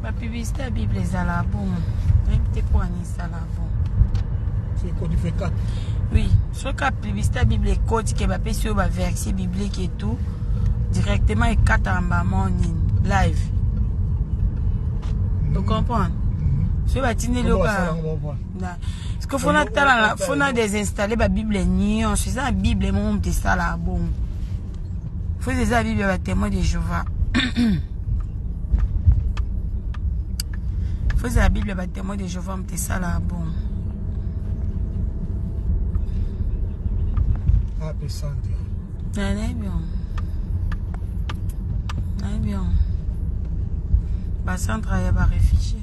ba publicité ya bible ezala bon nayebi te mpo ani ezala bon oui soki ya publicité ya bible ekoti ke bapesi oyo baversie biblique et tout directement ekataka mbamo nini live mm-hmm. ocomprendre mm-hmm. soki batindeli yo ka parceke fo natala fo na desinstalle babible nyonso eza na bible moko moto esalaka bongo Faites eza Bible ya ba témoins de Jéhovah. Faites la Bible ya ba témoins de Jéhovah mtesala bon. Happy Sunday. Nane bien. Nane bien. Ba centre ya ba réfugiés.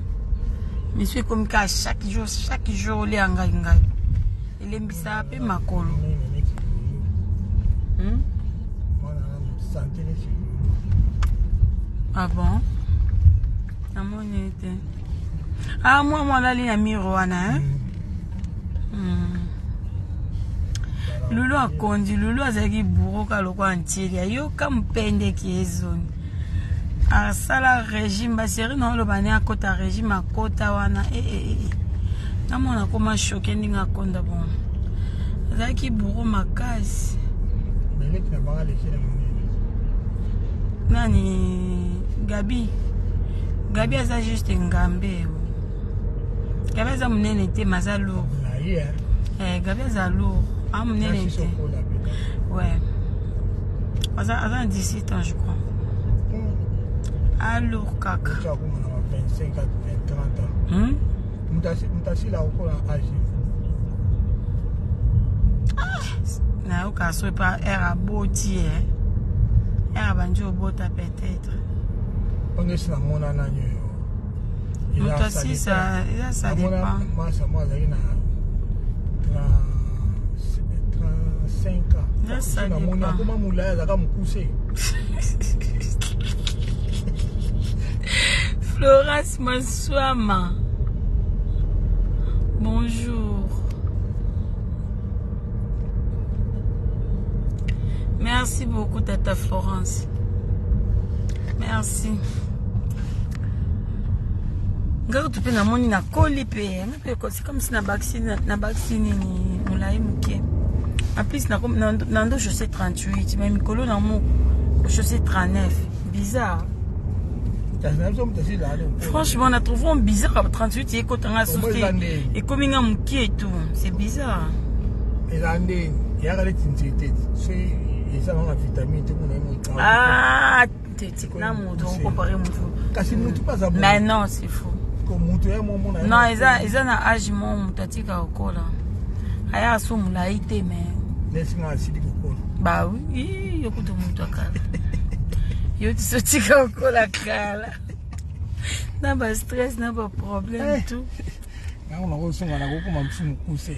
misu ekomi kaka chaque jour chaque jour olia ngai ngai elembisaka mpe makolo hmm? ah bon namoni ete ah mwa mwalali na miro wana eh? hmm. lulu akondi lulu azalaki buroka lokola ntieli ayoka mpendeki ezoni asala régime baseri na oloba ne akota régime akota wana ee eh, eh, eh, namona akoma shoke ndenge akonda bon azalaki bouro makasi nani gabi gabi aza juste ngambe gabi aza monene te ma aza lour eh, gabi aza lour a ah, monene te ouais aza aza na 17 ans je crois alour ah, kaka mutasila okola age nayoka soki pa aire aboti e eh. aire abandi obota peut-être mpanga esi namona nani oyo namoni akoma molaya azaka mokuse florence maswama bonjour merci beaucoup tata florence merci nga kutu mpe namoni nakoli mpe nga mpe ekosi comme si nabakisi nini molai moke en plus nando chaussé 38 mais mikolo na mo chaussé 39 bizarre franchement na trouve on bizarre 38 ekota nga susu te ekomi nga moke etu c'est bizarre eza nde eyaka neti nzete soki eza banga vitamine te mona ye mokaa na moto okompare motu kasi motu mpe aza mais non c'est faux moto ya momona non eza eza na age mo moto atika kokola aya aso molai te mais nesinga asili kokola ba oui yo kutu moto akala yo tiso tika kokola kala na ba stress na ba problème eh. tout yango nakosunga nakokoma mosusu mokuse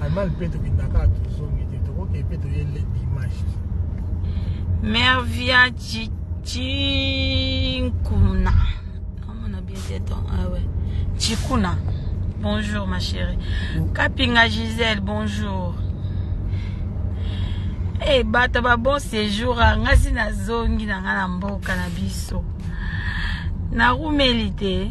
Allemagne mpe tokendaka tozongi te tokoke mpe toye le dimanche mervia cinkuna omona bien te ton awe cikuna bonjour ma chérie kapinga gisele bonjour hey, eh, bato ba bon séjour ngasi nazongi na ngai na mboka na biso narumeli te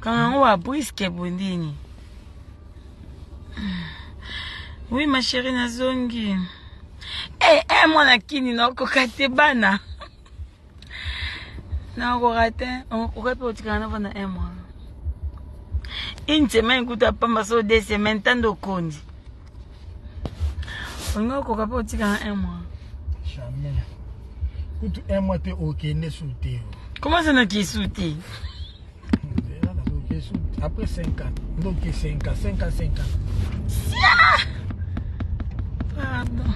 Kangango wa briske bondini. Oui ma chérie nazongi. Eh eh hey, mwana kini na okoka te bana. Na okoka te okoka pe otikana na bana eh mwana. Une semaine kuta pamba so deux semaines tando kondi. olingi okoka mpe otika na un mois jamais kutu un mois te okende su te comment ça naki su te après 5 ans ndoki 5 ans 5 ans 5 ans sia pardon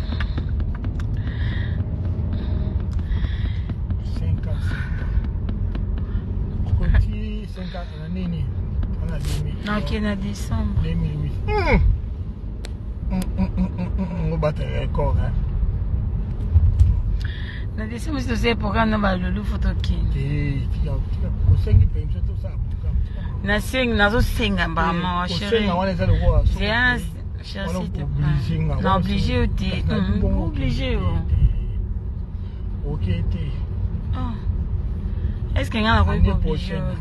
nakende na décembre obatela record na décembre si tosali programme na balulu fo tokende nasengi nazosenga mbala mawa chérie na oblige yo te oblige yo est ce que ngai nakoki kooblige yo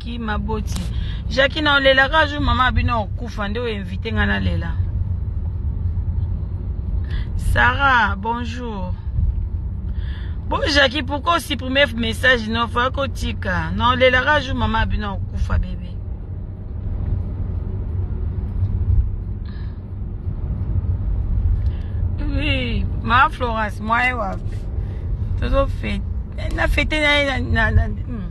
ki maboti jaki na olelaka jour mama abino okufa nde oinvite nga nalela sarah bonjour bo jaki pourkoi osupprime message no fa kotika na olelaka jour mama abino okufa bebe oui ma florence mwaye wapi tozofete na fete na ye na, na, na, na hmm.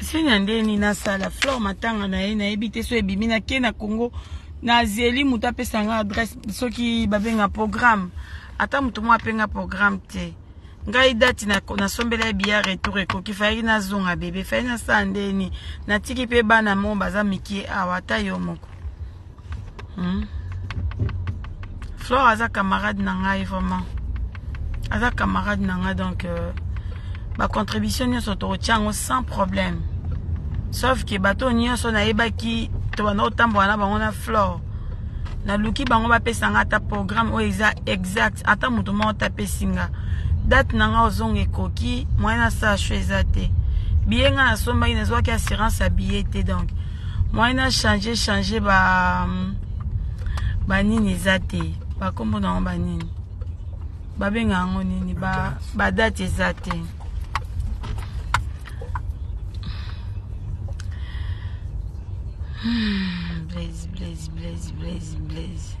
senya nde nini nasala flore matanga na ye nayebi te so ebimi nake na congo nazeli moto apesa nga adresse soki babenga programme ata moto moko apenga programme te ngai dati nasombela ye biya retour ekoki fayaki nazonga bebe faye nasala ndeni natiki mpe bana mo baza mikie awa ata yo moko hmm? flore aza camarade na ngai vraiment aza camarade na ngai donc euh, bacontribution nyonso tokotya yango sans problème sauf ke bato nyonso nayebaki tobanda kotambola na bango na flore naluki bango bapesa nga ata programme oyo eza exact ata moto moko tapesi nga date na nga ozonga ekoki moyen na sacho eza te biye nga nasombaki nazwaki assurance ya biye te donc moyen na change change ba banini eza te bakombo na yango banini babenga yango nini badate ba eza te hmm, blaise blaise blaise blaise blaise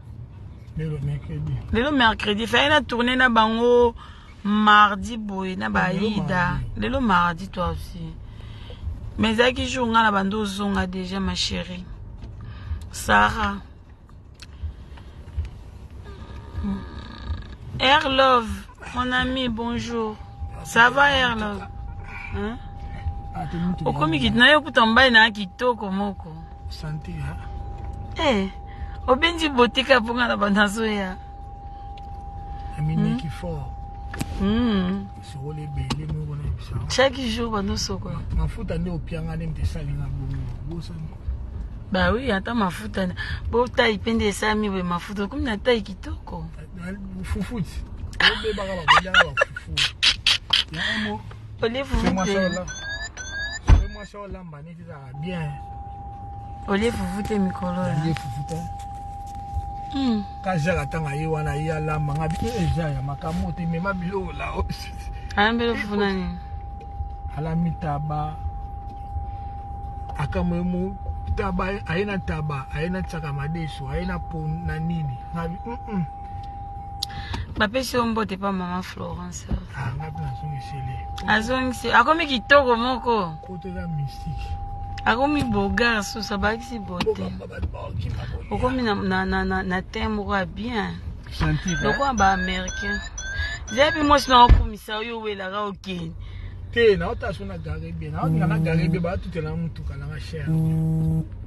lelo mercredi fai na tourne na bango mardi boye na baida lelo mardi toi aussi mais ezalaki jour ngai na bandi ozonga déjà ma chérie sarah air love Mon ami, bonjour. Ça va, Erlog hein? Ah, okomi kiti na yo kuta mobali na kitoko moko eh, obenzi botika mpo nga na banazoya amineki hmm? fort hmm. sokoli ebele moko na yebisa chaque jour banosokola mafuta nde opianga nde mte esalinga bongo bosani bawi ata mafuta botai mpe nde esami boye mafuta okomi na tai kitoko Fufut. Olive bien. Olive fufute mikolo. Olive fufute. Hmm. Kajala tanga ye wana ye alamba nga bi eja ya makambo te mema biloko la. Ayambelo fufuna nini? Alami taba. Akamwe mu taba aye na taba aye na tsaka madesu aye na pon na nini nabi mm -mm. bapesi yo mbote pa mama florence ah, azongisi akomi kitoko moko akomi bogar susu abakisi bote okomi na, na, na, na, na tem moko ya bien lokola baaméricain zebi mwasi na okumisa oyo owelaka okende te naotasuku na garibie naoninga na garibie baatutela na motuka nanga chere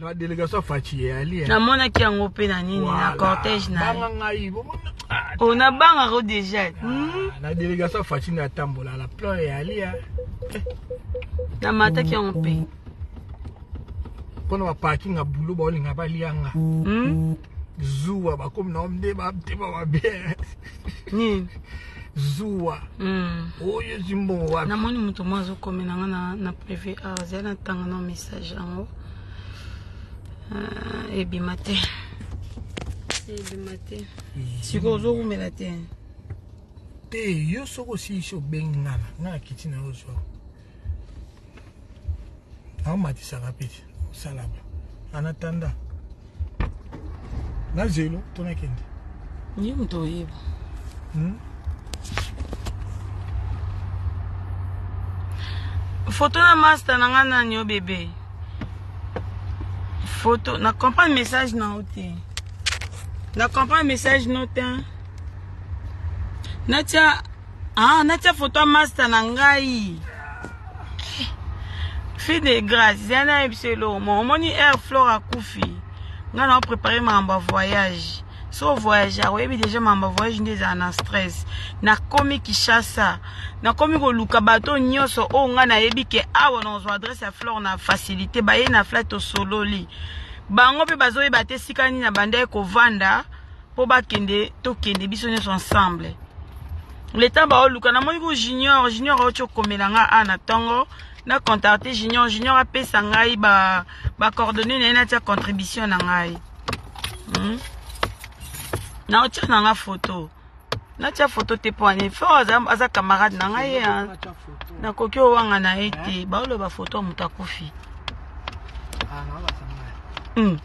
na delegation ya faci eyali namonaki yango mpe na nini na cortège nabanga ngai o oh, nabangaka o deja ah, hmm? na delegation ya faci na atambola na plan eyali ya eh. namataki yango mpe mpona baparking ya bulo baolinga balianga hmm? zuwa bakomi na omde bamtema mabe nini zuwa hmm. oyo ezwi mbongo wapi namoni moto moko azokomela nga na, na privé awa ah, azali natanga na message yango ah, ebima te ebima te sikoyo ozowumela te te yo soki osilisi obengi ngana nga nakiti na yo zwa aomatisaka mpe osalaka anatanda na zelo to nakende ye moto oyeba hmm? foto na masta na ngai nani yo bebe foto na comprendre message na yo te na comprendre message no te natia Ah, natia foto ya masta na ngai fille de grace ya nayebi biso elongo omoni air flore akufi ngai nao prépare makambo ya voyage so voyage oyebi déjà makambo ya voyage nde ezala na stress nakomi kishasa nakomi koluka bato nyonso oyo ngai nayebi ke awa nakozwa adresse ya flore na facilité baye na fla tosololi bango mpe bazoyeba te esika nini na bandaki kovanda po bakende tokende biso nyonso ensemble leta baoluka namoni ko junior junior auti okomela nga a na ntongo na contacte junior junior apesa ngai bacoordonne ba na ye natia contribution na ngai hmm? na otia na nga foto natia foto te mpo ani fo aza, aza camarade na ngai ye nakoki owanga na ye te baoloba foto ya moto akufi ah, hmm.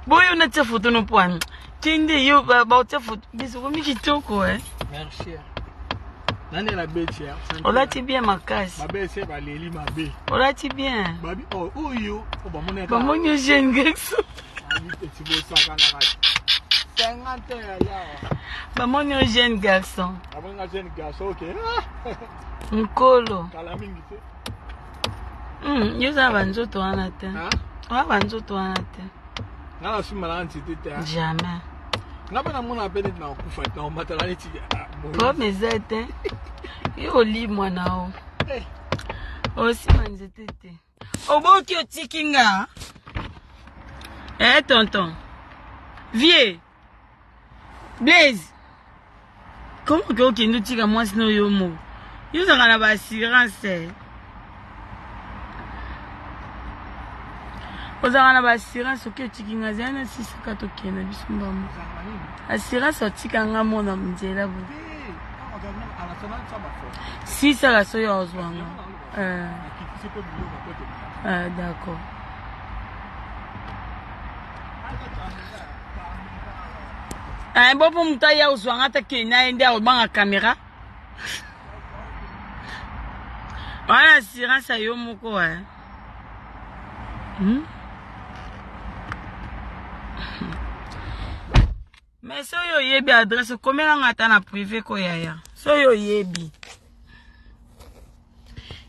boyo na tia foto no pwana kende yo baotia foto bisokomi kitoko e merci nani la beti ya olati bien makasi mabe se baleli mabe olati bien babi oh, oyo oh, bamoni bamoni yo jeune gex bamoni yo jeune garçon nkolo Hmm, yo oza banzoto wana te oza banzoto wana te nga na sumba na nzete te jamais nga mpe namona mpe neti na kokufa te nakomatala neti problème ah, eza te yo oli mwana o eh. osima nzete te oboki otiki nga e tonton vieux Blaise, comment que okende otika mwasi na yo moko? Yo ozalaka na ba assurance. Eh? ozalaka na baassurance oke otiki nga zali na sisaka tokenda biso mbambo assurance otika nga mona nzela bo sisaka soyo ozwanga Eh. Akitisi mpe biloko na poto. Ah, d'accord. Eh, bo mpo moto aya ozwa nga ata kei na ye nde akobanga kamera wana assurance ya yo moko wa eh. hmm? Mais soki oyebi adresse komela nga ata na privé ko yaya. Soki oyebi.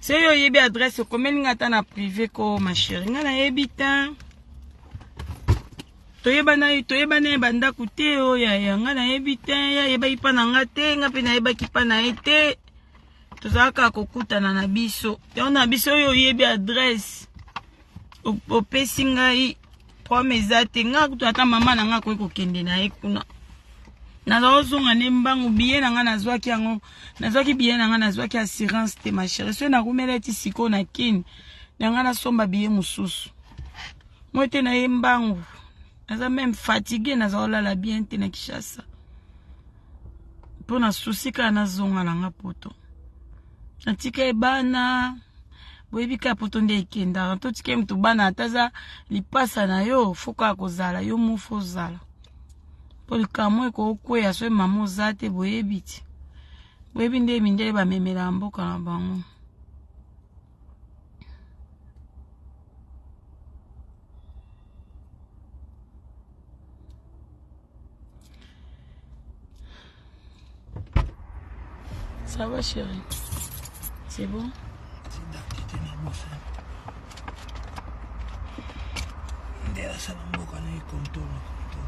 Soki oyebi adresse komeli nga ata na privé ko ma chérie. Nga nayebi te. toyebana toyebana ye bandako te oyo yaya nga nayebi te ye ayebaki mpa na nga te nga mpe nayebaki mpa na ye te tozalaka kokutana na biso yango na biso oyo oyebi adresse opesi ngai problème eza te ngai kutu ata mama na ngai akoki kokende na ye kuna nazozonga nde mbangu biye na ngai nazwaki yango nazwaki biye na ngai nazwaki assurance te ma chérie soki nakumela eti sikoyo na kini na ngai nasomba biye mosusu moi te na ye mbangu naza meme fatigue naza kolala bien te na kishasa mpo na susi kaka nazonga na ngai poto atika ye bana boyebi kaka poto nde ekendaka totika ye moto bana ata aza lipasa na yo fokaka kozala yo mofu ozala mpo likambo ekokweya so mama oza te boyebi ti boyebi nde mindele bamemelaka mboka na bango Ça va chérie C'est bon nde asala mboka na ye control na control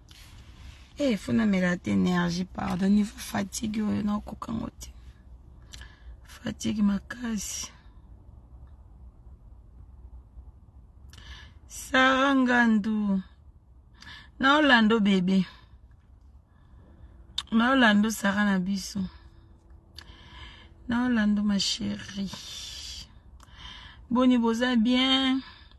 Eh, faut na mela te energie pardon niveau fatigue oyo na koka ngo te. Fatigue makasi. Sarah Ngandu. Na Orlando bebe. Na Orlando Sarah na biso. Na Orlando ma chérie. Boni boza bien.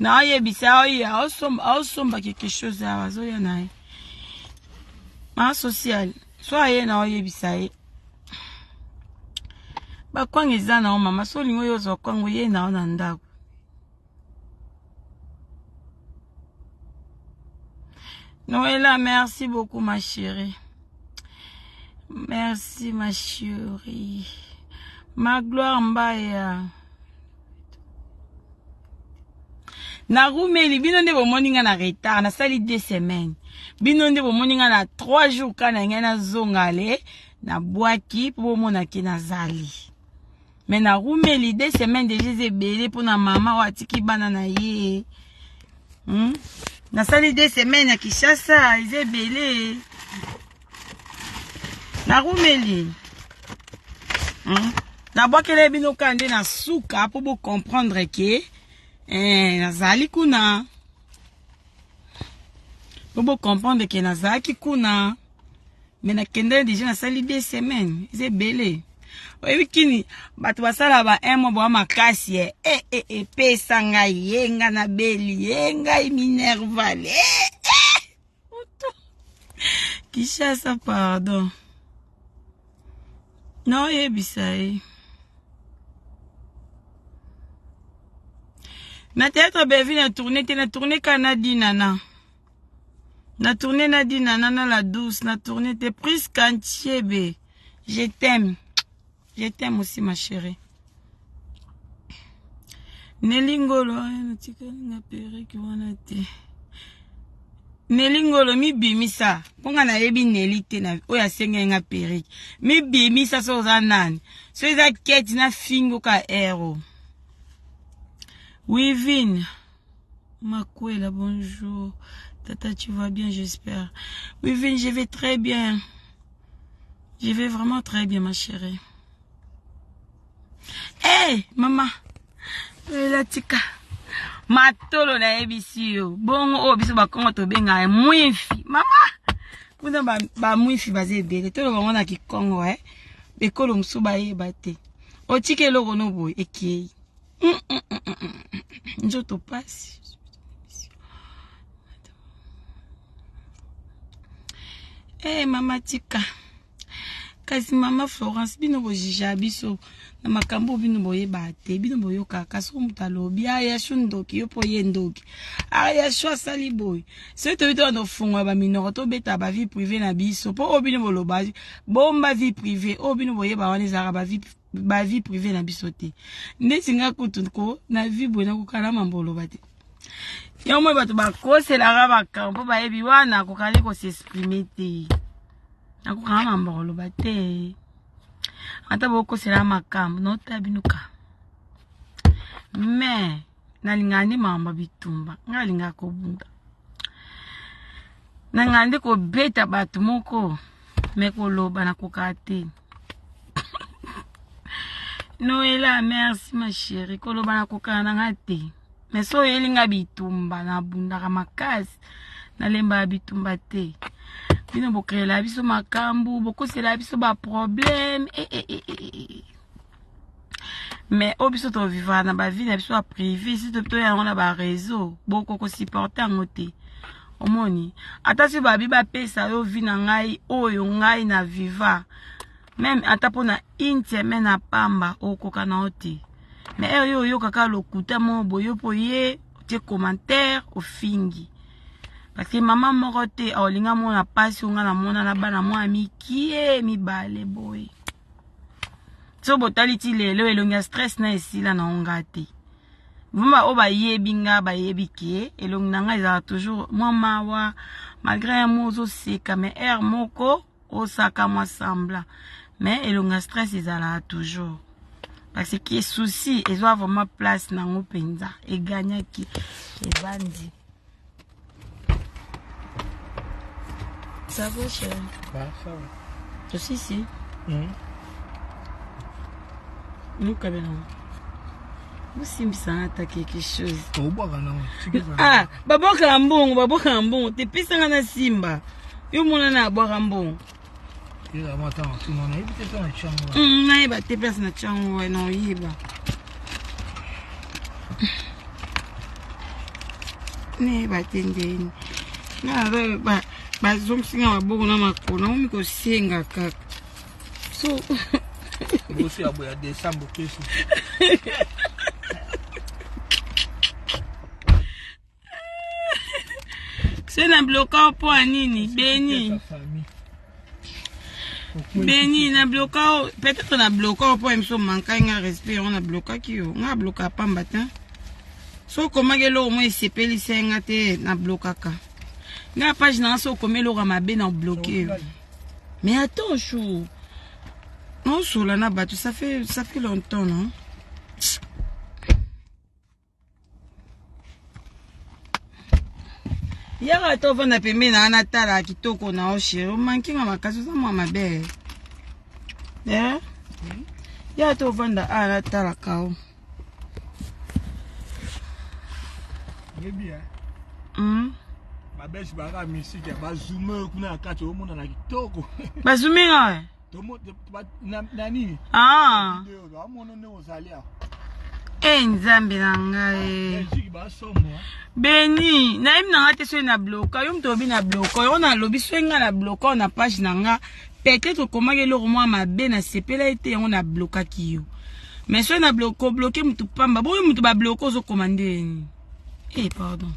naoyebisa oyo aosomba quelque chose awa azoya na ye ma sociale so aye naoyebisa ye bakwanga eza na yo mama so olingi oyo ozwa kwanga oye na yo na ndako Noëlla, merci beaucoup ma chérie. Merci ma chérie. Ma gloire Mbaya. Narumeli, bino nde bomoni nga na retard, nasali deux semaines. Bino nde bomoni nga na trois jours kana ngai nazonga ale na bwaki mpo bomona ke nazali. mais na rumeli deux semaines deja eza ebele mpo na mama oyo atiki bana na ye hmm? nasali deux semaines ya kinshasa eza ebele na rumeli hmm? nabwakela bino kaka nde na suka mpo bocomprendre ke eh, nazali kuna mpo bocomprendre ke nazalaki kuna mais na kenda deja na sali deux semaines eza ebele oyebi kini bato basala ba un mois boa makasi e e e epesa ngai ye nga na beli ye ngai minerval e eh, eh, moto kishasa pardon naoyebisa ye na théâtre bellevue na tourne te na tourne kaka na dinana Na tourne na dina na na la douce na tourne te Prisca Ntiebe je t'aime je t'aime aussi ma chérie Nelly Ngolo natikali nga pereki wana te Nelly Ngolo mibimisa mpo nga nayebi Nelly te na oyo asengeli nga pereki mibimisa so oza nani so eza keti na fingo ka ero Wivine Makwela, bonjour. Tata, tu vas bien, j'espère. Oui, Vin, je vais très bien. Je vais vraiment très bien, ma chérie. Hé, hey, maman. Lela tika. Matolo na yebisi yo. Bongo oyo oh, biso bakongo tobenga mwifi. Mama. Kuna ba, ba mwifi baza ebele. Tolo bango na kikongo, eh. Ekolo mosusu bayeba te. Otiki eloko no boye ekei. nzoto pasi hey, eh, mama tika kasi mama florence bino bojija biso na makambo bino boyebaka te bino boyokaka soki moto alobi ayashu ah, ndoki yo mpo ye ndoki ayashu ah, asali boye soki toyebi te wana ofungola baminoko tobeta bavie privé na biso mpo oyo bino boloba bomba vie privé oyo bino boyeba wana ezalaka bavie ba vie privée na biso te ndeti nga kutu ko na vie boye nakokala mambo oloba te yango moi bato bakoselaka makambo mpo bayebi wana akokali kosexprime te nakokala mambo oloba te ata bokosela makambo notabinuka me nalingaka nde mambo bitumba ngai alingaka kobunda nangandi kobeta bato moko me koloba nakokaka te noela merci ma chérie koloba na kokana na nga te mais so oyeli nga bitumba nabundaka makasi nalembaka bitumba te bino bokreela biso makambo bokosela biso baproblème e, e, e, e, e. mais oyo biso tovivaka na bavi na biso ya prive si topito yango na bareseau boko kosupporte yango te omoni ata si babi bapesa yo vi na ngai oyo ngai na viva meme ata mpo na une semaine ya pamba okoka na yo te me ere yo oyokaka lokuta moko boyo mpo ye otie commentaire ofingi parceke mama moko te aolinga mona mpasi onga na mona na bana mwa mikie mibale boye so botali ti lelo elongi ya stress na esila na onga te vrima oyo bayebi nga bayebi ke elongi na ngai ezalaka toujours mwa mawa malgré ya mwa ozoseka mais aire moko osaka mwa sembla mais elongi ya stress ezalaka toujours parce que souci ezwa vraiment place na yango mpenza egagnaki ebandi Ça va, chérie Bah, ça va. Je suis ici. Mhm. Luka bena. bosimbisanga ata quelque chose obwaka nango ah babwakaka mbongo babwakaka mbongo te pesanga na simba yo monana abwaka mbongo Hmm, nayeba te place na tiango wana oyeba nayeba te ndeni naza bazongisi nga maboko na makolo nakomi kosenga kaka so bosi ya boya desembre tosi se na bloka mpo ya nini beni beni na bloka peut-être na bloka mpo ya miso mankai nga respect yango na blokaki yo nga bloka pamba te soki okomaki eloko moko esepelisa nga te na blokaka nga page na nga soki okomi eloko ya mabe na bloke yo mais attends jour naosola na bato ça fait, ça fait longtemps non yaka to vanda pembeni na ana tala kitoko na oshero mankinga makasi oza mwa mabe eh? yaka to vanda ana tala kao mm. babesi baka misiki ya bazume kuna ya kati omonana kitoko bazume nga Ah. e eh, nzambe na ngai beni nayebi na ngai te soki na bloka yo moto obi na bloka yo nalobi soki ngai na bloka na page na ngai peut-être okomaki eloko mwa mabe nasepelaki te yango nablokaki yo mais soki na kobloke motu pamba boyo motu babloke ozokoma ndeni Eh, pardon.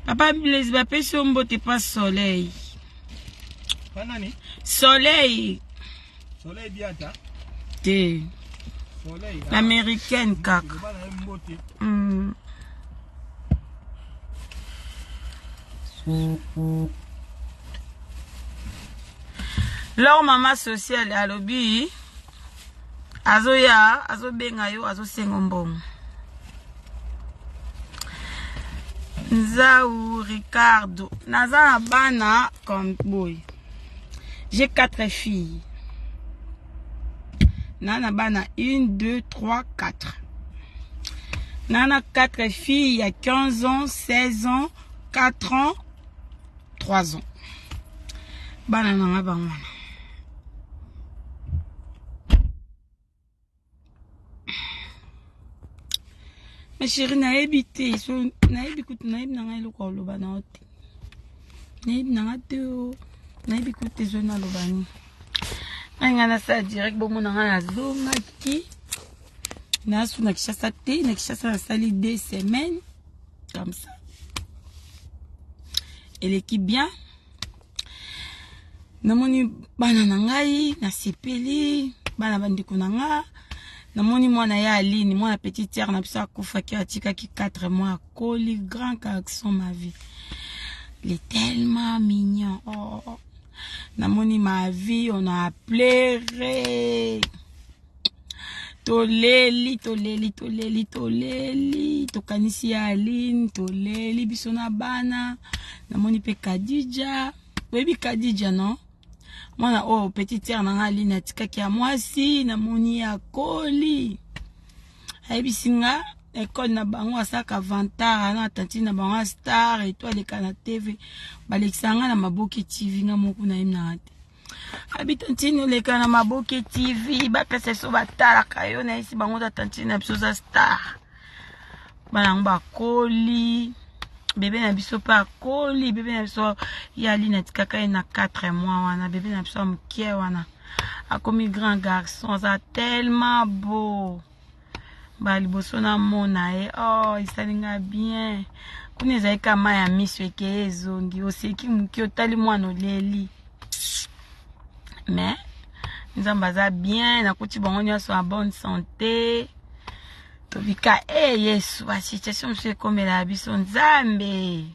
Papa Blaise bapesi yo mbote pa soleil. Pa nani? Soleil. Soleil biata. Te. Soleil. Ah. Américaine kaka. Mm. Mm -hmm. Leur mama sociale alobi azoya azobenga yo azosengo mbongo nzau ricardo naza na bana comme boy j'ai quatre filles na na bana une deux trois quatre na na quatre filles ya 15 ans 16 ans 4 ans 3 ans bana na nga bango wana ma chéri nayebi te so nayebi kutu nayebi na nga eloko oloba na yo te nayebi na nga te o nayebi kutu te so naloba nini ngai ngai nasala direct bomona ngai nazongaki nasu na kishasa te na kishasa nasali deux semaines comme ça eleki bien namoni bana na ngai nasepeli bana bandeko na nga namoni mwana ya aline mwana petit terre na biso akufaki atikaki 4 mois akoli grand garçon ma vie le tellement mignon oh. namoni ma vie on a pleure toleli toleli toleli toleli tokanisi ya aline toleli biso na bana namoni mpe kadija oyebi kadija no mwana oyo oh, petit tere na ngai aline atikaki ya mwasi namoni ya koli ayebisi nga ekole na bango asalaka vantara na tantine na bango astar eto aleka na tv balekisa nga na maboke tv nga moku nayemnaka te abi tantine oleka na maboke tv bapesa biso batalaka yo nayesi bango ta tantine na biso za star bana yango bakoli bebe na biso mpe akoli bebe na biso ye alina tikaka ye na 4 mois wana bebe na biso ya moke wana akomi grand garçon aza tellement beau mbala liboso namona ye oh esali nga bien kuna ezali ka mai ya miso ekeye ezongi oseki moki otali mwana oleli mais nzambe aza bien nakuti bango nyonso ya bonne santé tobika e eh, yesu basituation mosusu ekomela biso nzambe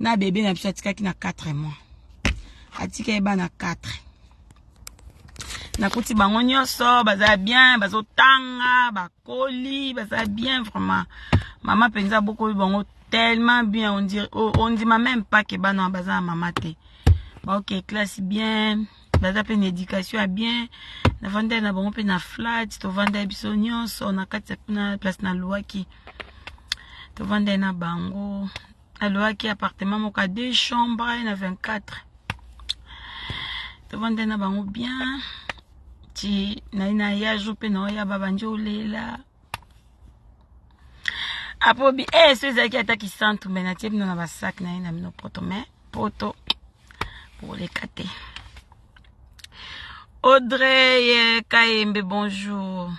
na bebe na biso atikaki na 4 mois atika ye bana 4 nakuti bango nyonso baza bien bazotanga bakoli baza bien vraiment mama mpenza bokoli bango tellement bien ondima même pas ke bana baza na mama te baoke classe bien baza mpe na éducation ya bien navandai na bango mpe na flat tovandai biso nyonso na kati na place naluaki tovandai na bango naluaki appartement moko ya deux chambre na 24 tovandai na bango bien ti nai na ya jour mpe naoya babandi olela apobi e eh, so ezalaki ata kisantu me natie bino na basak na ye na bino poto me poto koleka te audrey eh, kayembe bonjour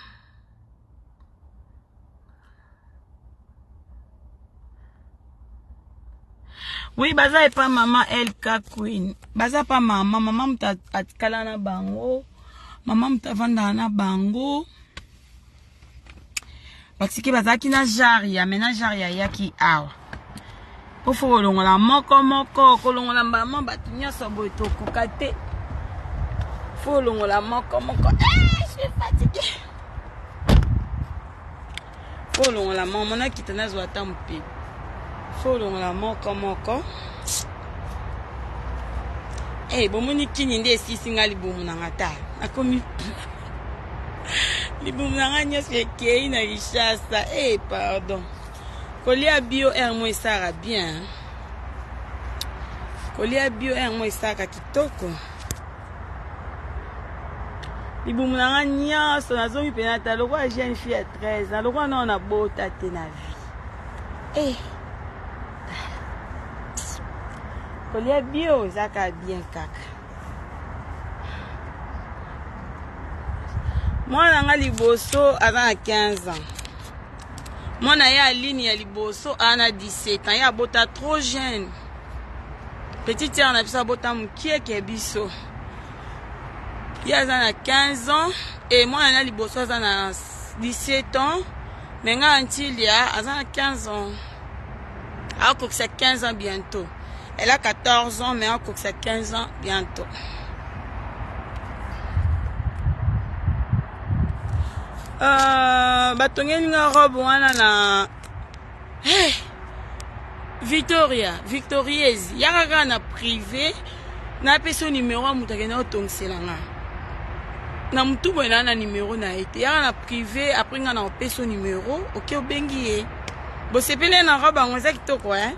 oui baza epa mama lk queen baza pa mama mama moto atikala na bango mama moto avandaka na bango batike bazalaki na jare ya mena jare ya yaki awa pofo kolongola moko moko kolongola mbama bato nyonso boye tokoka te fo kolongola moko moko eh, fo kolongola moko monakita nazwa ata mope fo kolongola moko moko Hey, eh, bomoni kini nde esisi ngai libumu na nga ta nakomi libumu na ngai nyonso ekei na kinshasa e eh, pardon kolia bio r mo esaka bien kolia bio r mo esaka kitoko libumu na ngai nyonso nazongi mpe nata lokola jeune fille ya 13 na lokola nao nabota te na vie e eh. kolia bio ezaka bien kaka mwana nga liboso aza na 15 ans mwana ye aline ya liboso aza na 17 ans ye abota trop jeune petit tiere na biso abota mokieke ya biso ye aza na 15 ans e mwana na liboso aza na 17 ans me ngai antilia aza na 15 ans akokisa 15 ans bientôt Elle a 14 ans, mais on cook 15 ans bientôt. Euh, batongeli nga robe wana na hey, eh, victoria victorieuse yaka kaka na privé napesi yo nimero ya moto akenda kotongisela nga na motu boye naa na nimero na ye te yaka na privé apres nga na kopesi yo nimero oke obengi ye bosepeli na robe yango eza kitoko eh?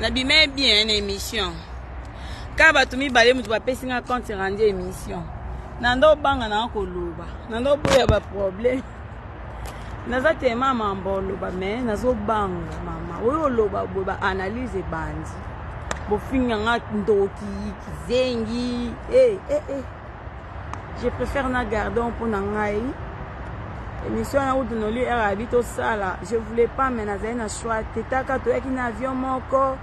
nabimee bien na émission kaka bato mibale moto bapesi nga compte rendu émission na ndo obanga nanga koloba na ndo oboya baproblème naza tema mamba oloba me nazobanga mama oyo oloba boye baanalyse ebandi bofinga nga ndoki kizengi e eh, e eh, e eh. je préfère na gardon mpo na ngai émission na utu noli heure abi tosala je voulais pas mais nazali na choix te taka toyaki na avion moko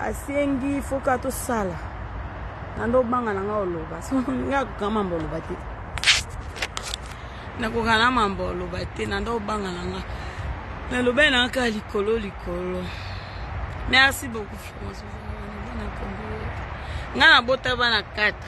asengi foka tosala na ndo obanga na ngai oloba so ngai akoka mambo oloba te nakoka na mambo oloba te na ndo obanga na ngai nalobai na kaka likolo likolo merci beaucoup ngai nabota bana 4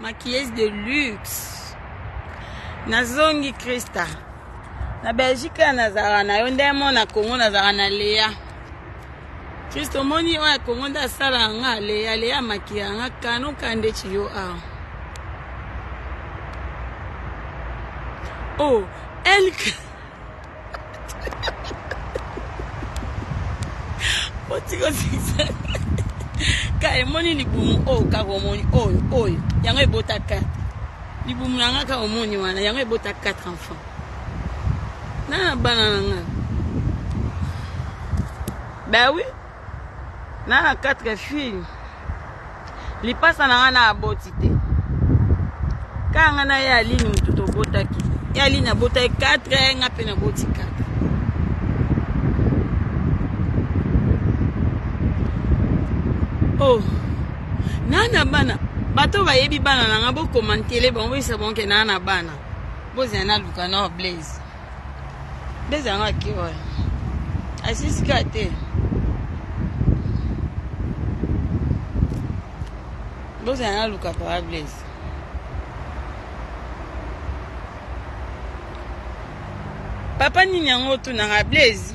maquilleuse de luxe nazongi krista na belgique ya nazala na yo nde mo na congo nazala na lea kristo omoni oyo ya congo nde asala yanga lea lea maki yanga kano kande ciyo awa o oh, elke kaka emoni libumu oyo kaka omoni oyo oyo yango ebota 4 libumu na nga kaka omoni wana yango ebota 4 enfant na na bana na nga bawi na na quatre fille lipasa na nga na aboti te kaka nga na ye aline motu tobotaki ye aline abotaki quatre nga mpe naboti quatre o oh. na na bana bato bayebi bana na nga bokomantele bango boyisa bango ke na na bana bozala naluka nor blaise beza yanga kiwa asisika te boza yanga luka papa blaise papa nini yango otunaka blaise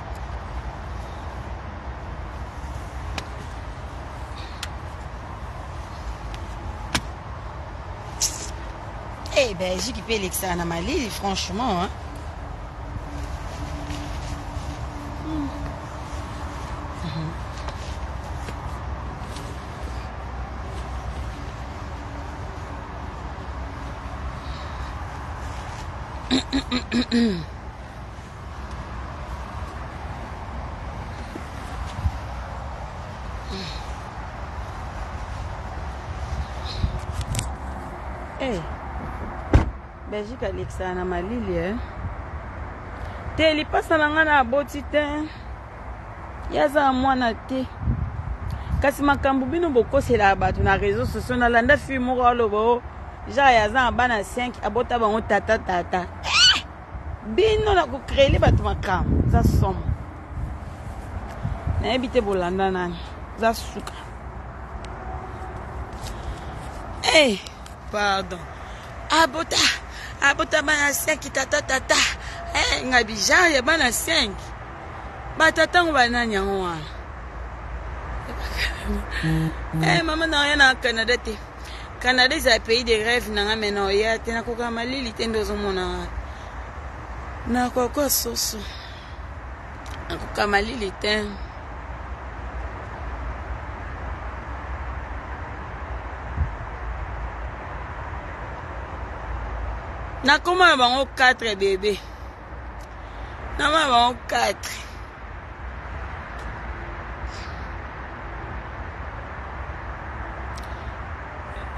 Eh, Belgique ipe elekisaka na malili franchement hein? Mm-mm-mm. Hey. Eh. belgique alekisaka na malili eh? te lipasa na ngai na aboti te ye aza mwana te kasi makambo bino bokoselaka bato na réseau sociaux nalanda fille moko aloba o oh, jare aza na bana 5 abota bango tata tata bino na ko creer bato makambo za somo nayebi te bolanda nani za suka hey, eh, pardon abota abota bana 5 tata tata hey, eh, nga bijar ya bana 5 batatango banani yango wana hey, eh, mama na oya na canada te Canada eza pays de rêve nanga mais na oya te nakoka malili te nde ozomona nga nakoka soso nakoka malili te nakoma na bango 4 bebe na mwana bango 4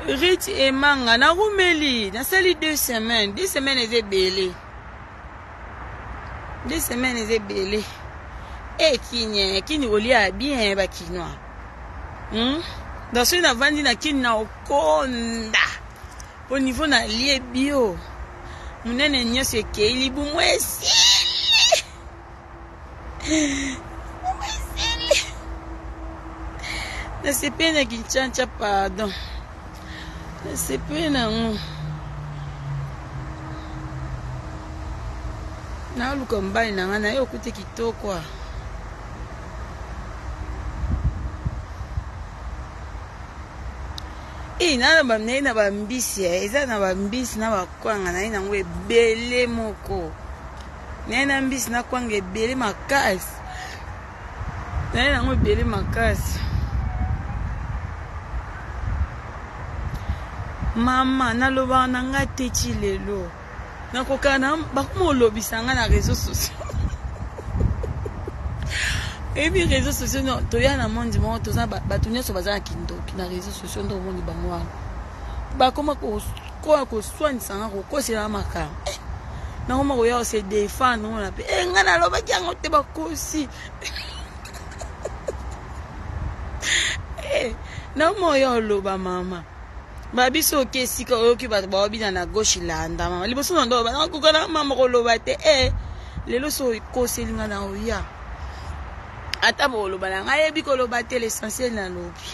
rich emanga nakumeli nasali deux semaines deux semaines eza ebele deux semaines eza ebele e eh, kini kini kolia bien bakinois hmm? donc soki navandi na kini na okonda Au niveau na lie bio munene nyoso ekei libumu esili libumu esili nasepeli na kinchancha pardon nasepeli nango naluka mobali na ngai naye okute kitoko a Eeh na na ba naye na ba mbisi eh eza na ba mbisi na ba kwanga naye nango ebele moko naye na mbisi na kwanga ebele makasi naye nango ebele makasi mama nalobaka na nga te ti lelo Na kokana bakoma olobisa nga na réseaux sociaux. Ebi réseaux sociaux non toya na monde moko toza bato nyonso baza na kindoki na réseaux sociaux nde omoni bango wana bakoma koya koswanisa nga kokosela makambo eh, nakoma koya kose defendre mona mpe e eh, ngai nalobaki yango te bakosi eh, nakoma koya oloba mama ba biso oke esika oyoki bato baobina na gauche landa mama liboso na ndo banakoka na mama koloba te e lelo so okoselinga na oya ata boloba na ngai yebi koloba te l'essentiel nalobi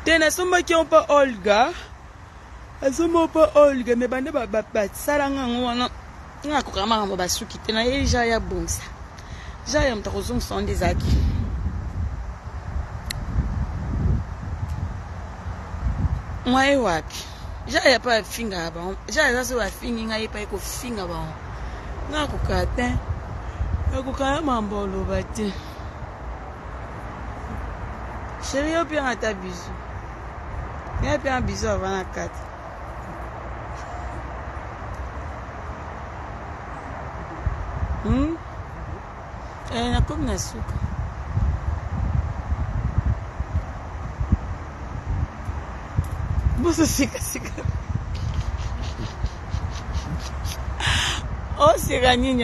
te nasombaki yo mpo olga Azo mo po olga me bande ba ba sala nga ngo wana nga ko kama ngo ba suki te na ye ja ya bonsa. Ja ya mtako zong sonde zaki. Mwa ye wapi? Ja ya pa finga ba. Ja ya zo ba fingi nga ye pa ko finga ba. Nga ko katin. Nga ko kama mambo lo ba te. Chérie yo pia nga ta bisous. Bien bien bisous avant la carte. Hmm? Eh, nakomi na suka. Boso sika sika. Oh, c'est Rani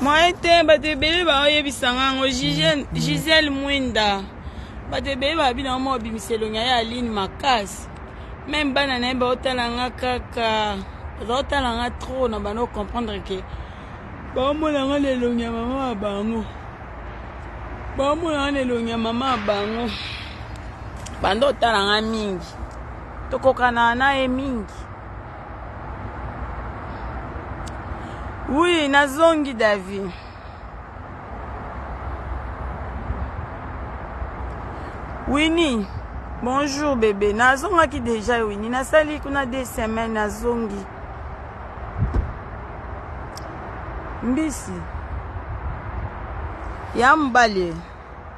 moyen te bato ebele baoyebisa nga yango gisele mm, mm. mwinda bato ebele babi na mwa obimisa elongi ya aline makasi meme bana na ye baotala nga kaka baotala nga trop na bana ocomprendre ke baomona nga na elongi ya mama ya bango baomona nga na elongi ya mama ya bango banda otala nga mingi tokokana na ye mingi Oui, nazongi Davi. Winnie, bonjour bébé. Nazongaki déjà Winnie. Nasali kuna deux semaines nazongi. Mbisi. Ya mobali.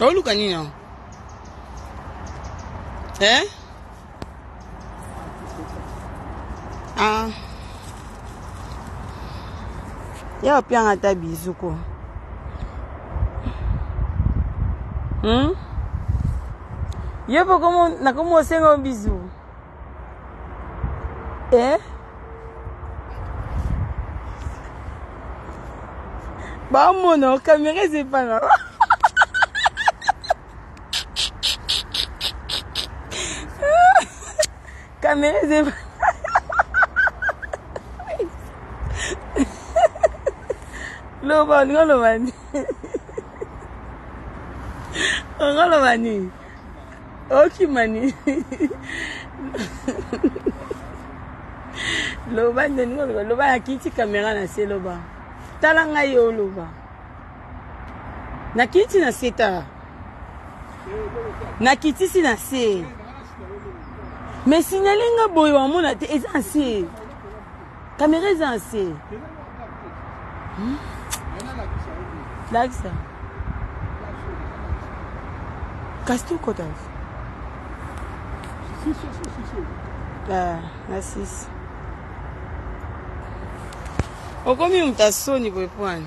oluka nini yango eh? ah. ya opianga ata bizu ko hmm? ye mpo nakomi osenga bizu eh? bamona kamera eza epa na kamera eza epa loba olinga loba nini olinga loba nini okimani loba nde ndenge oloba loba nakiti kamera na se loba tala ngai yo oloba nakiti na se tala nakitisi na se me sinyali nga boye wamona te eza nse Kamera eza na se. Hmm? Lakisa. Kasi tu kota. Ah, na sisi. Okomi moto ya soni boye pwani.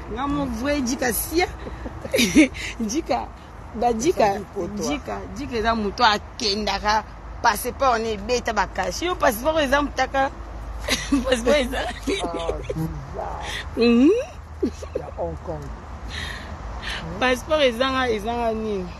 Nga mon vrai Djika sia. Djika ba Djika Djika Djika eza moto akendaka passeport ne ebeta bakasi yo passeport eza motaka passeport eza passeport ezanga ezanga nini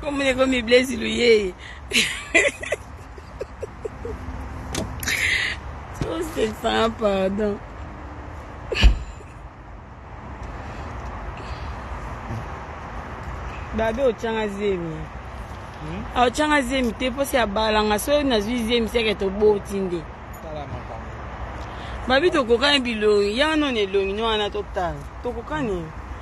Comme les comme Blaise Louye. Trop Stéphane, pardon. babe otyanga zemi hmm? ah, otyanga zemi te mposi ya balanga soki nazwi zemi seke toboti nde babi tokokani bilongi ya wana na elongi no wana totala tokokani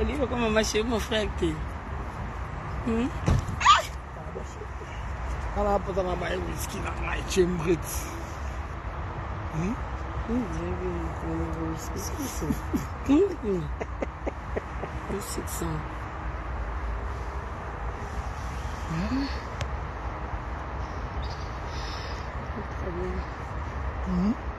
olingi okoma mache mon frère te hmm? ala apota na baye wiski na ngai chembrit hmm? Mm-hmm.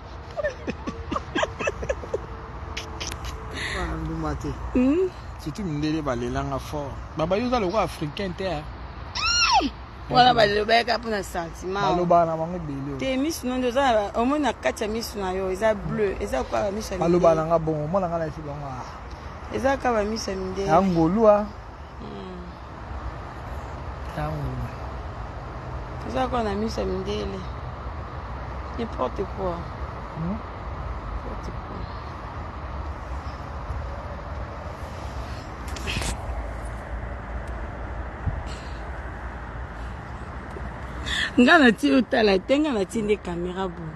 nduma te hmm? surtout mindele balelanga fort babayi oza lokola africain te eh. wana balobaka mpo na sentimentbalobaka na bango ebele te misu nonde oza omoni na kati ya misu na yo eza bleu eza kaka bamisu balobaka na nga bongo omona nga na efi bango ah. eza kaka bamisu ya mindele ya ngolua Taula. Toza kwa na misa mindele. N'importe quoi. Hmm? N'importe quoi. nga na ti otala te nga na ti nde kamera boye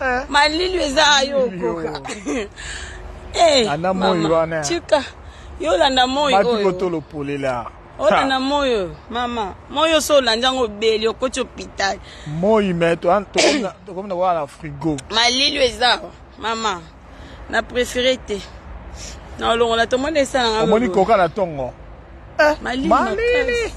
Eh. Malili eza yo koka. Eh. Ana moyi wana. Chika. Yo landa moyi oyo. Batu tolo polela. olanda moyo mama moyo so olandi yango obeli okoti hopitale moi me tokomi na wana frigo malili eza mama Na prefere te. Na olongola to mona esala nga. Omoni koka na tongo. Eh, malili. malili.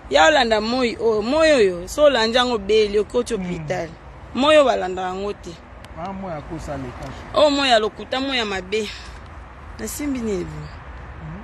Ya olanda moi oyo, oh, moi oyo so olandi yango beli okoti hmm. hopital. Mm. Moi oyo balanda yango te. Ah, moi akosa leka. Oh, moi ya lokuta, moi ya mabe. Nasimbi nini? Mm.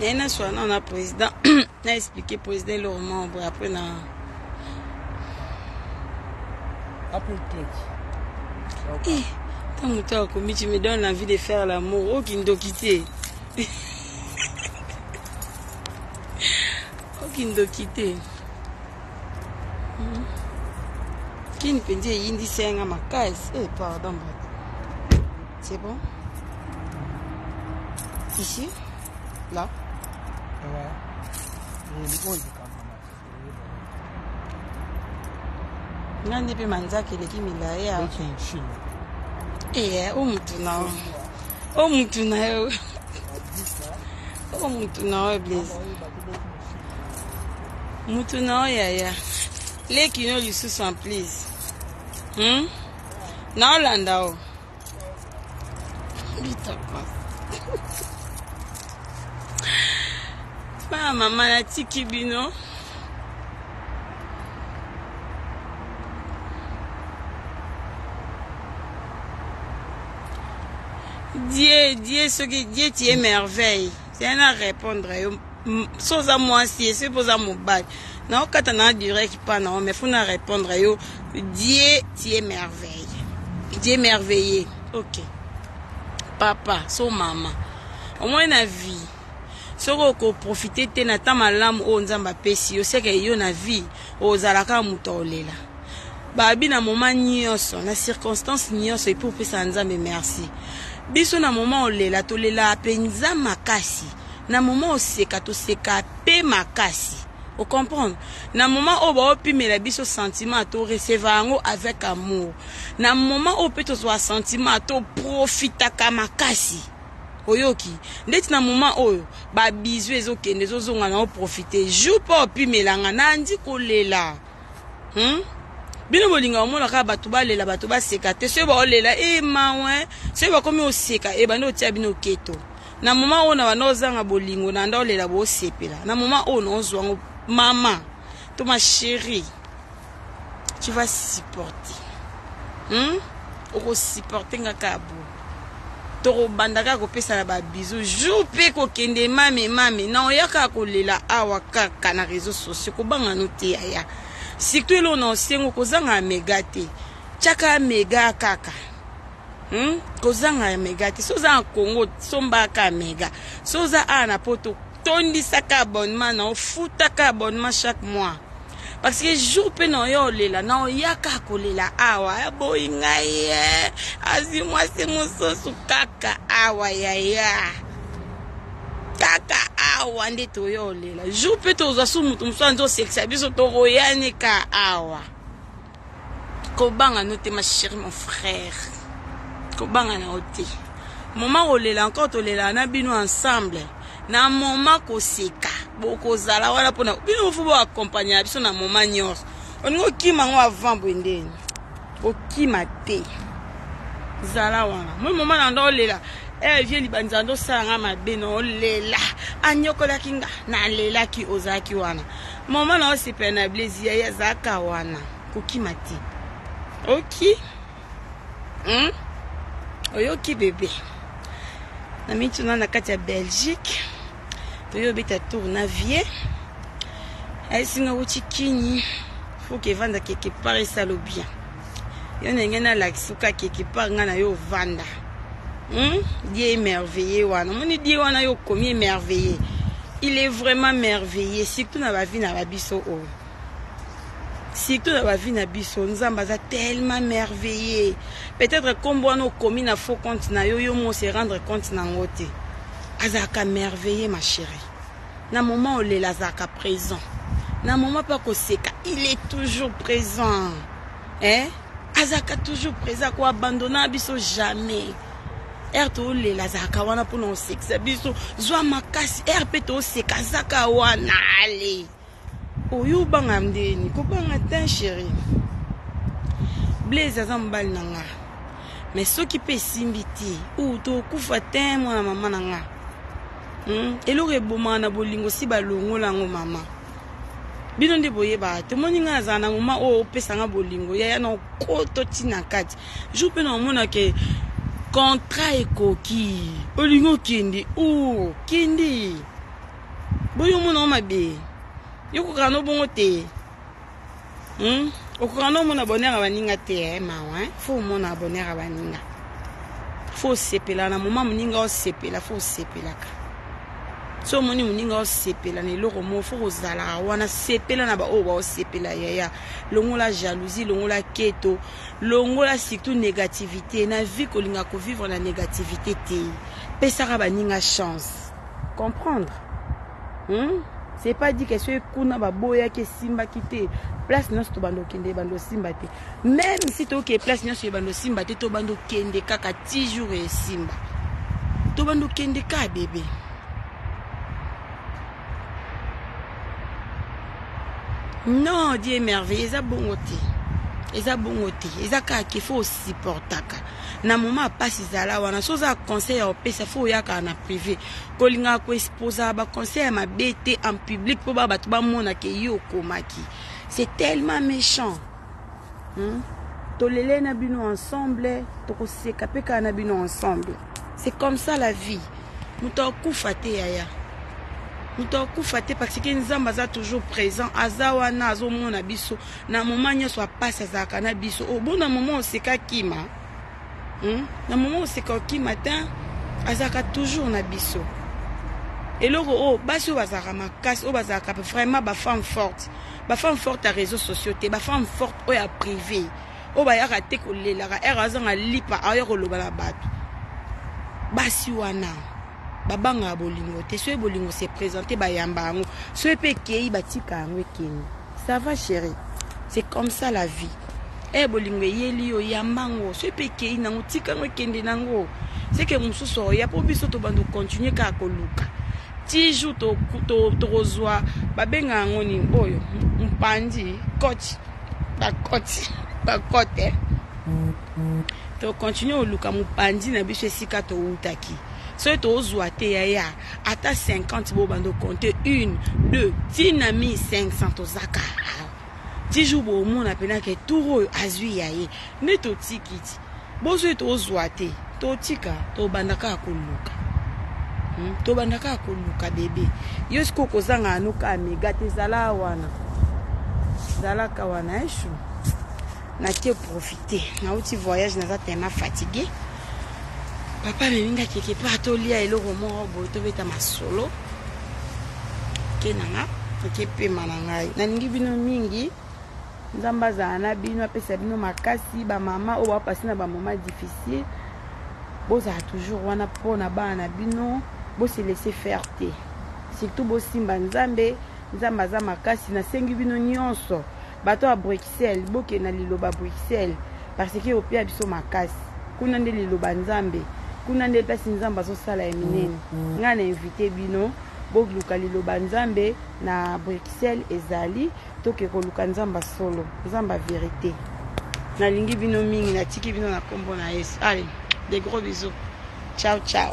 naye naswana na président na expliqué président eloko moko boye après na eh, ntango moto akomi tu me donne l'envie de faire l'amour oyo oh, kindoki te oyo oh, kindoki te hmm. kini mpenza eyindisi yanga makasi e eh, pardon bato C'est bon Ici Là Ouais. nga nde mpe manzaka eleki milai ya ee o mutu na yo o mutu na yo o mutu na yo blaise mutu na yo yaya leki no lisusu en please hmm? naolanda o bitapa bana mama natiki bino die die soki die ti ye merveille ya na répondre yo so oza mwasi ye soki mpo oza mobali naokata na direct mpa na yo mais fo na répondre yo dieu tie merveille dieu merveilleux ok papa so mama omoi na vie soki okoprofite te na ntan malamu oyo nzambe apesi yo seke yo na vie Ozalaka moto ya olela babi na moma nyonso na circonstance nyonso epuis opesaka nzambe merci biso na moma olela tolelaka mpenza makasi na moma oseka toseka mpe makasi ocomprendre na moma oyo baopimela biso sentiment toreseva yango avec amour na moma oyo mpe tozwa sentiment toprofitaka makasi oyoki ndeti na moment oyo ba bizu ezokende ezozonga na oprofite jour mpo opimelanga nandi kolela hmm? bino bolinga omona kaka bato balela bato baseka te soki baolela e eh, mawe eh. soki bakomi oseka e eh, banda otia bino keto na moment oyo na banda ozanga bolingo na nda olela bosepela na moment oyo na ozwango mama to ma chérie tu vas supporter hmm? okosupporte nga kaka bo tokobanda kaka kopesana babizu jour mpe kokende mame mame na oya kaka kolela awa kaka na réseau sociaux kobanga no te yaya surtout eloo na osengo kozanga mega te tyaka mega kaka hmm? kozanga mega te so oza na congo sombaka mega so oza awa na poto tondisaka abonnement na ofutaka abonnement chaque mois parce que jour mpe na oyo olela na oyaka kolela awa aboyi ngai ye azwi mwasi mosusu kaka awa yaya kaka awa nde toyo olela jour mpe tozwa su moto mosusu anzi osekisa biso toroyane ka awa kobanga no te ma chérie mon frère kobanga na yo te moma kolela encore tolelaka na bino ensemble na moma koseka bokozala wana mpona bino mofo boakompagne na biso na moma nyonso olingi okima yango avant boye ndeni okima te zala wana moi moma na ndo olela eh, vie libanza ndo osala nga mabe na olela anyokolaki nga nalelaki ozalaki wana Maman na osepela na Blaise yaya azalaka wana kokima te. Oki hmm? oyoki bebe na mituna na kati ya Belgique toyo obeta tour na vie ayesinga wuti kini fuka evandaka ekepare esalo bien yo ndenge nalakisi ka quelque part nga na yo ovanda hmm? die emerveille wana omoni die wana yo okomi emerveille il est vraiment merveilleux surtout na bavi na babiso oyo oh. surtout na bavi na biso nzambe aza tellement merveilleux peut-être nkombo wana okomi na faux compte na yo yo mo se rendre compte na yango te azalaka merveilleux ma chérie Na moment olela azalaka present. Na moment pe akoseka il est toujours present. Eh? Azalaka toujours present ko abandonna biso jamais. Heure tolela azalaka wana pona osekisa biso. Zwa makasi heure pe toseka azaka wana. Allez. Oyo obanga ndeni kobanga ten chéri. Blaise aza mobali na nga. Mais soki pe esimbi te, ou tokufa ten mwana mama na nga. Hmm? Eloko ebomaka na bolingo si balongola yango mama. bino nde boyebaka tomoni ngai nazala na moma oyo opesa ngai bolingo yaya na okoto ntina kati jour mpe na omona ke contrat ekoki olingi okende o oh, kende boyo omona mabe yo kokaka no bongo te hmm? okoka no omona bonheur ya baninga te eh, mawa eh? fo omona bonheur ya baninga fo osepela na moma moninga osepela fo osepelaka so omoni moninga osepela na eloko moko fo kozalaka wana sepela na baoyo baosepela yaya longola jalousie longola keto longola surtout négativité na vie kolinga kovivre na négativité te pesaka baninga chance comprendre hmm? c'est pas dit que soki kuna baboyaki esimbaki te place nyonso tobanda okende ebanda osimba te même si toke place nyonso ebanda osimba te tobanda okende kaka ti jour esimba tobanda okende ka bebe non die merveille eza bongo te eza bongo te eza kaka kefo osupportaka na moment ya pasi zala wana so oza conseil ya opesa fo oyaka na privé kolingaka koexposa ba conseil ya mabe te en public mpo ba bato bamona ke yo okomaki c'est tellement méchant hmm? tolele na bino ensemble tokoseka mpe kaka na bino ensemble c'est comme ça la vie moto akufa te yaya moto akufa te parce que nzambe aza toujours présent aza wana azomona biso Na moment nionso ya pasi azalaka na biso. Obo na moment oseka kima. Hmm? Na moment oseka okima tein azalaka toujours na biso. Eloko oyo basi oyo bazalaka makasi oyo bazalaka vraiment ba femme forte. Ba femme forte ya réseaux sociaux te, ba femme forte oyo ya privé. Oyo bayaka te kolelaka, ere azanga lipa aoya koloba na bato. Basi wana babangaka bolingo te soki bolingo se presente bayamba yango soki mpe ekei batika yango ekende Ça va cherie, c'est comme ça la vie. Eh bolingo eyeli yo yamba ngo soki mpe ekei nango tika yango ekende nango seke mosusu oya mpo biso tobanda kocontinue kaka koluka ti jour tokozwa babenga yango nini oyo mpandi cote bacote bacote eh. tocontinue koluka mopanzi na biso esika towutaki soki tozwa te yaya ata 50 bo bando compter une deux tina mi 500 tozaka ti jour bomona mpena ke tour oyo azwi ya ye nde totiki ti bozwi tozwa te totika tobanda kaka koluka hmm? tobanda kaka koluka bebe yo sikoyo kozanga yano kaka mega te zala wana zalaka wana eshu eh, Na te profiter. Na uti voyage naza tellement fatigué. Papa amemi nga quelque part tolia eloko moko boye tobeta masolo. Ke na nga eke pema na ngai. Nalingi bino mingi. Nzambe azala na bino apesa bino makasi ba mama oyo bapasi na ba moment difficile. Bozala toujours wana mpo na bana na bino. Bose laisser faire te. Surtout bosimba Nzambe. Nzambe aza makasi. Nasengi bino nyonso. Bato ya Bruxelles, bokende na liloba Bruxelles parce que opia biso makasi. Kuna nde liloba Nzambe. Kuna nde place Nzambe azosala ya minene. Mm-hmm. Ngai na invite bino boluka liloba Nzambe na Bruxelles ezali toke koluka Nzambe solo, Nzambe verite. Nalingi bino mingi, natiki bino na kombo na Yesu. Allez, des gros bisous. Ciao ciao.